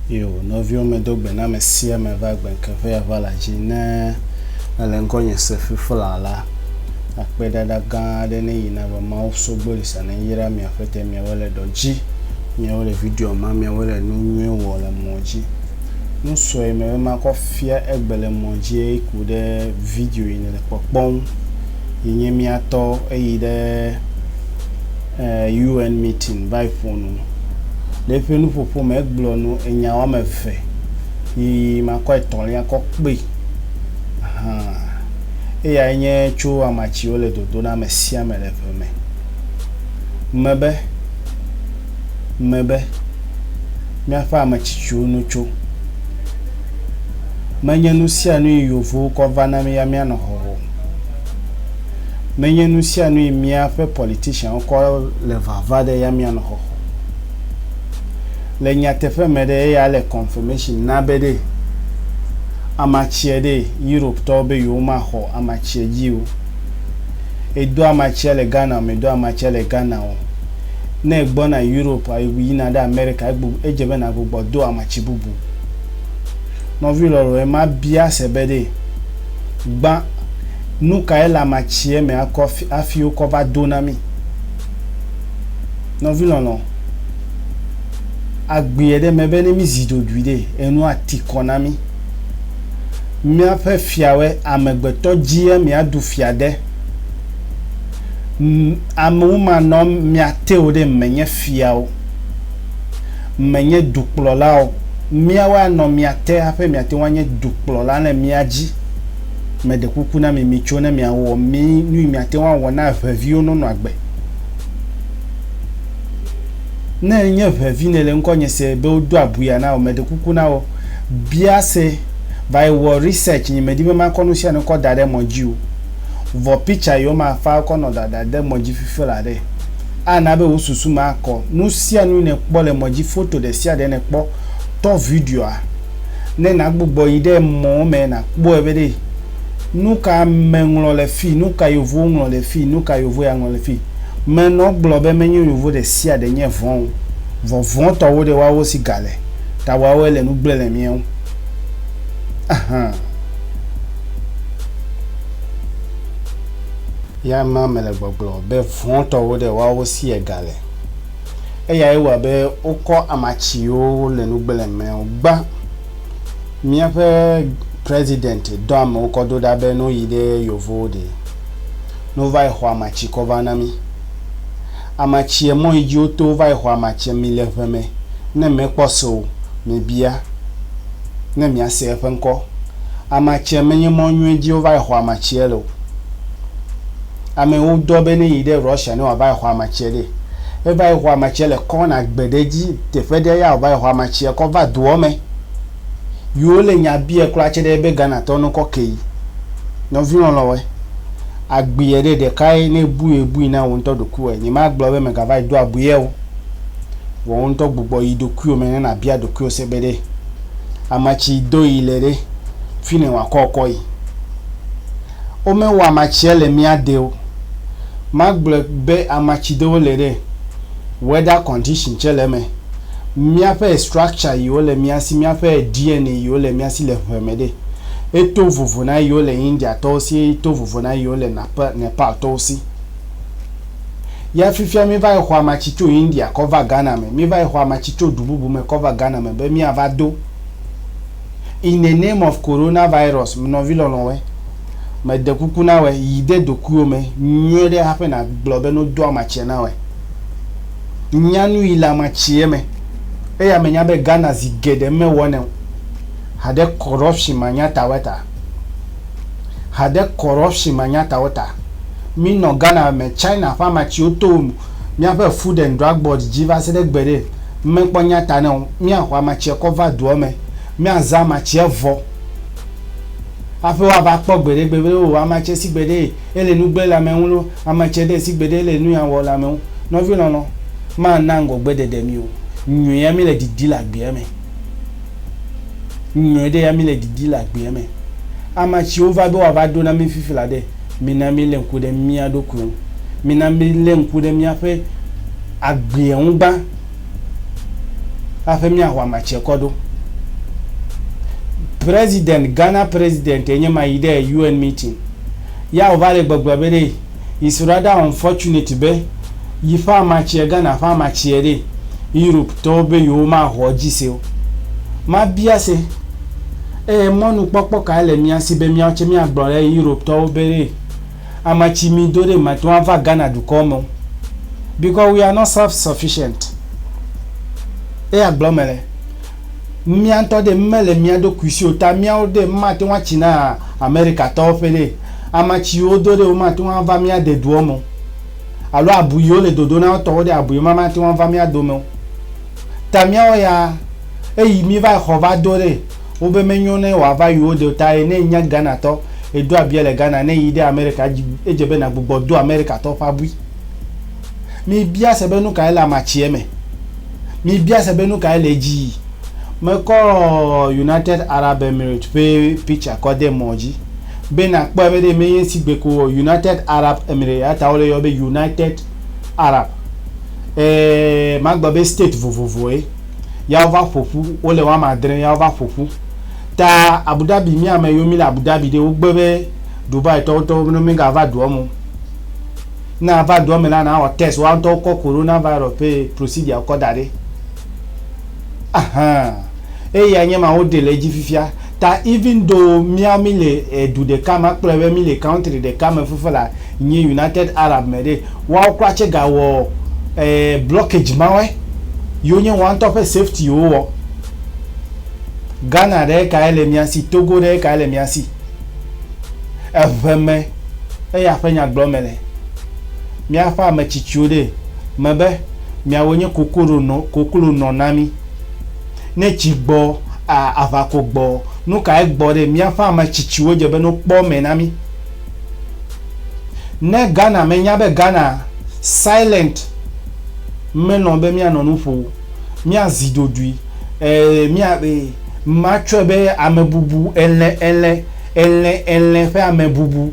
Yo, nɔviwo medo gbe na ame sia ame va gbe ŋkeƒe ya va la dzi ne ele ŋkɔ nye sefi fla la. Akpedada gã aɖe ne yina be Mawu sogbo li sa ne yra mia ƒete miawo le dɔ dzi, miawo le video ma, miawo le nu nyuie wɔ le mɔ dzi. Nu sɔe mele be makɔ fia egbe le mɔ dzie yi ku ɖe video yi nèle kpɔkpɔ ŋu yi nye mía tɔ eyi ɖe eh, UN meeting va yi ƒo nu. Le eƒe nuƒoƒo me, egblɔ nu enya woame eve yi makɔ etɔ̃lia kɔ kpe. Hã, eyae nye tso amatsi wole dodo na ame sia ame le ƒe me. Mebe. me be, Míaƒe ame tsitsiwo no tso. Menye nu sia nue yevowo kɔ va na mí ya míanɔ xɔxɔ o. Menye nu sia nue míaƒe politicianwo kɔ le vava ɖe ya míanɔ xɔxɔ o. Le nyateƒe me ɖe, eya le confirmation na be ɖe amatsia ɖe Europetɔwo be yewomaxɔ amatsia dzi o. Edo amatsia le Ghana o, medo amatsia le Ghana o. Ne ègbɔna Europe a yina ɖe Amerika egbu edze be nàgbugbɔ do amatsi bubu. Nɔvi lɔlɔ̃e ma bia se be ɖe gbã nu kae le amatsiɛ me akɔ afi afi wokɔ va do na mí. Nɔvi lɔlɔ̃, agbeɛ ɖe eme be ne mízi dodui ɖe enu ati kɔ na mí. Míaƒe fiawɔe amegbetɔ dzie míaɖu fia de. Amewomanɔ mia teo ɖe menye fiawo, menye dukplɔlawo. Miawo anɔ mia te haƒe miateŋu anye dukplɔla le mia dzi. Meɖe kuku na mi mitso ne miawɔ mi nui miateŋu awɔ na ʋeviwo nonɔ agbe. Ne enye ʋevi nele ŋkɔnye se be wodo abuya na wò, meɖe kuku na wò bia se va yi wɔ research nyi medi be makɔ nusianu kɔ daɖe mɔ dzi o. Vɔ pitsa yio ma fa kɔ nɔ dada de mɔdji fife la ɖe. A na be wo susu ma kɔ. Nu sia nu yi ne kpɔ le mɔdji foto ɖe sia ɖe ne kpɔ, tɔ videoa. Ne na gbugbɔ yi ɖe mɔ me na kpɔe be ɖe nu ka ame ŋlɔ le fi, nu ka yovo ŋlɔ le fi, nu ka yovo ya ŋlɔ le fi. Me nɔ gblɔ be menyo yovo ɖe sia ɖe nye vɔn o. Vɔ vɔn tɔ wo ɖe wa wo si ga le ta wa wo ele nu gble le miɛ ŋu. Ahan. Ya ma mele gbɔgblɔ be vɔ̃tɔwo ɖe woawo si ega le. Eyae wɔa be wokɔ ama tsiwo wole nu gblẽm mɛ wo gbã. Míaƒe president dɔ amewo kɔ do ɖa be no yi ɖe yovowo ɖe no va yi xɔ ama tsi kɔ va na mí. Ama tsiɛ mɔ yi dzi wo to va yi xɔ ama tsiɛ mi le ŋɛ mɛ ne mɛ kpɔ so mi bia. ne miase eƒe ŋkɔ. Amatsie menye mɔ nyuie dzi wova exɔ amatsie le o. Amewo dɔ be ne yi ɖe Russia ne wòava exɔ amatsie ɖe. Eva exɔ amatsie le kɔna gbe ɖe dzi teƒe ɖe ya wòva exɔ amatsie kɔ va doɔ me. Yi wo le nya biɛ kura tse ɖe ebe Ghana tɔ ne wokɔ ke yi. Nɔvi lɔlɔwɔe, agbuiɛ ɖe ɖekae ne ebui ebui na wò ŋutɔ ɖokuiwɔe. Nye ma gblɔ be megava yi do abuiɛ o. Wò ŋutɔ gbugbɔ yi ɖokuiwò me ne nàbia ɖokuiwò se be ɖe ame tsi do yi le ɖe fi nɛ wòakɔ kɔ yi. Womewɔ ame tsia le mía de o. Magblɔe be ame tsi do wole ɖe weather condition tsɛ le eme. Míaƒe structure yi wole mía si, míaƒe DNA yi wole mía si le ŋe me ɖe eto vovo na yi wole Indiatɔwo si eye to vovo na yi wole Napa, Nepaltɔwo si. Ya fifia míva yi xɔ amatsi tso India kɔ va Ghana me, míva yi xɔ amatsi tso du bubu me kɔ va Ghana me be míava do. In the name of Corona virus, nɔvi lɔlɔ̃wɔe, mede kuku na wɔe, yi de dokuiwò me nyuie ɖe haƒe nàgblɔ be nodo amatsia na wɔe. Nya nuyi le amatsie me. Eya menya be Ghana zi geɖe mewɔnɛ o. Haɖe corruption manyatawɔe ta. ha ɖe corruption manyatawo ta. Minɔ Ghana me China ƒe ama tsiwo to míaƒe Food and Drug Board dzi va se ɖe gbeɖe mekpɔ nya ta na o. Míaxɔ ama tsia kɔ va dua me. Míazã ama tsia vɔ hafi woava kpɔ gbeɖegbe be o ama tsia si gbeɖe ele nu gblẽ le ame ŋu loo, ama tsia ɖe si gbeɖe ele nu ya wɔ le ame ŋu. Nɔvi lɔlɔ, mana ŋgɔgbeɖeɖe mi o. Nyuia míle didi le agbea me. Nyɔe ɖe ya mi le didi le agbea me. Ama tsiwo va be woava ɖo na mi fifi la ɖe, mina mi le ŋku ɖe mia ɖokuiwo ŋu. Mina mi le ŋku ɖe miaƒe agbea ŋu gbã haƒe miaho ama tsia kɔ ɖo. President, Ghana President enye ma yi ɖe UN meeting. Ya wova le gbɔgblɔ be ɖe Yi so ɖa da unfortunate be yi ƒe amatsie Ghana ƒe amatsie ɖe Europe tɔwo be yewo ma hɔ dzi se o. Ma bia se eye mɔnu kpɔkpɔ kae le mía si be míawo tse mía gblɔ ɖe Europe tɔwo be ɖe amatsi mi do ɖe mate ŋu ava Ghana dukɔ me o because we are not self sufficient. Eya gblɔ me le. Mía ŋutɔ ɖe mele mía ɖokui si o ta míawo ɖe mímate ŋu atsi na Amerikatɔwo ƒe ɖe. Ama tsiwo wodo ɖe womate ŋu ava mía de doɔ me o. Alo abui yi wole dodo na wo tɔwo ɖe abui ma mate ŋu ava mía dome o. Ta míawo ya eyi míva yi xɔ va do ɖe wo be menyo ne wòava yi wo de o ta ye ne enye Ghanatɔ edo abia le Ghana ne yi ɖe Amerika edze be nagbugbɔ do Amerikatɔwo ƒe abui. Mibia se be nukae le amatsie me. Mibia se be nukae le edzii. Mekɔ United Arab Emirates ƒe picture kɔ de mɔ dzi be nakpɔe be ɖe menye ŋsi gbe ko o. United Arab Emirates eya ta wole yɔ be United Arab. E, magblɔ be state vovovoe ya wova ƒoƒu. Wole woame adre ya wova ƒoƒu. Ta Abu Dhabi, mi ame yiwo mile Abu Dhabi ɖe, wogbe be Dubai tɔwo ŋutɔ be mega va dua me o. Ne ava dua me la, nawɔ test woa ŋutɔ wokɔ Corona virus ƒe procedure wokɔ da ɖi. Ahan. Eyae nye ma woɖe le edzi fifia. Ta even though míawo mí le edu ɖeka me, akpɔe be mí le country ɖeka me fifia la nyi United Arab me ɖe, woawo kura tse ga wɔ e blockage mawɔe yiwo nye woa ŋutɔ ƒe safety wowɔ. Ghana ɖe kae le mía si? Togo ɖe kae le mía si? Eve me eya ƒe nyagblɔ me le. Míaƒe ame tsitsiwo ɖee me be miawo nye koklo nɔ, koklo nɔ na mí. Ne tsi gbɔ, a, aʋako gbɔ, nu kae gbɔ ɖe? Míaƒe ame tsitsiwo dze be ne wokpɔ me na mí. Ne Ghana, menya be Ghana silent menɔ be míanɔ nu ƒo o. míazi ɖoɖoe, ɛɛ, mía, ɛɛ, matsɔe be amebubu, elẽ, elẽ, elẽ, elẽ ƒe amebubu.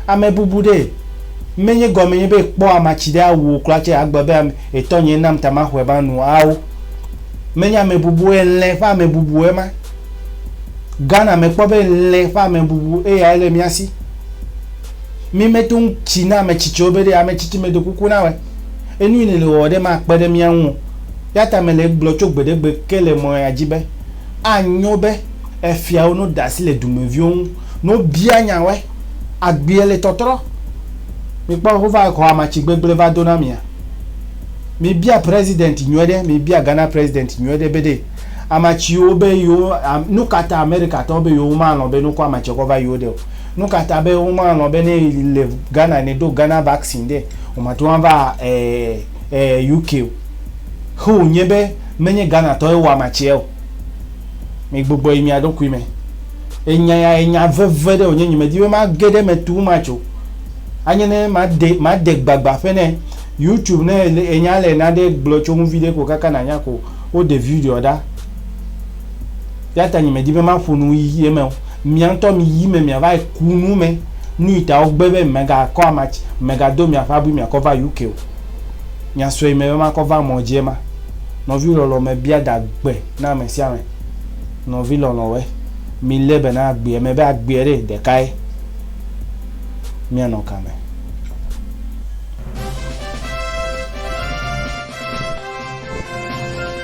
Amebubu ɖe menye gɔme nye be kpɔ amatsi ɖe awuwò kura tse agbe be ame, etɔ nyee nam ta maxɔe ma nu ao. Menye amebubu o, elẽ ƒe amebubu ema. Ghana me kpɔ be elẽ ƒe amebubu eyae le mía si. Mí meto ŋu tsi na ametsitsiwo be ɖe ametsitsi medo kuku na wɔ. Enui nèle wɔwɔ ɖe makpe ɖe mía ŋu o. Eya ta mele egblɔ tso gbeɖegbe ke le mɔ ya dzi be, Anyo be efiawo no ɖe asi le dumeviwo ŋu, no bia nya wɔe, agbea le tɔtrɔ. Mikpɔ, wova xɔ amatsi gbegblẽ va do na mia. Mi bia president nyuie ɖe, mi bia Ghana president nyuie ɖe be ɖe amatsiwo be yewo, nukata Amerikatɔwo be yewo ma lɔ̃ be nukɔ amatsie kɔ va yewo ɖe o. Nukata be woma lɔ̃ be ne le Ghana ne do Ghana vaccine ɖe woma teŋ ava UK o. Xe wo nye be menye Ghana tɔ ye wɔ ama tsia o. Mi gbugbɔ yi mia ɖokui me. Enya ya enya veve ɖe wonye nye me di be ma ge ɖe me too much o. Anye ne ma de ma de gbagba ƒe ne YouTube ne enya le na ɖe gblɔ tso ŋu viɖe ko kaka na nya ko wo de video ɖa. Yata nye me di be ma ƒo nu yi eme o. Mia ŋutɔ mi yi me miava yi ku nu me. Nuyi ta wogbe be mega kɔ ama tsi, mega do miaƒe abui miakɔ va UK o. Mia sɔe me be makɔ va mɔ dzie ma. Nɔvi lɔlɔ me bia da gbe na ame sia ame. Nɔvi lɔlɔ we, mi le be na agbeɛ me be agbeɛ ɖe ɖeka ye. Mia nɔ ka me?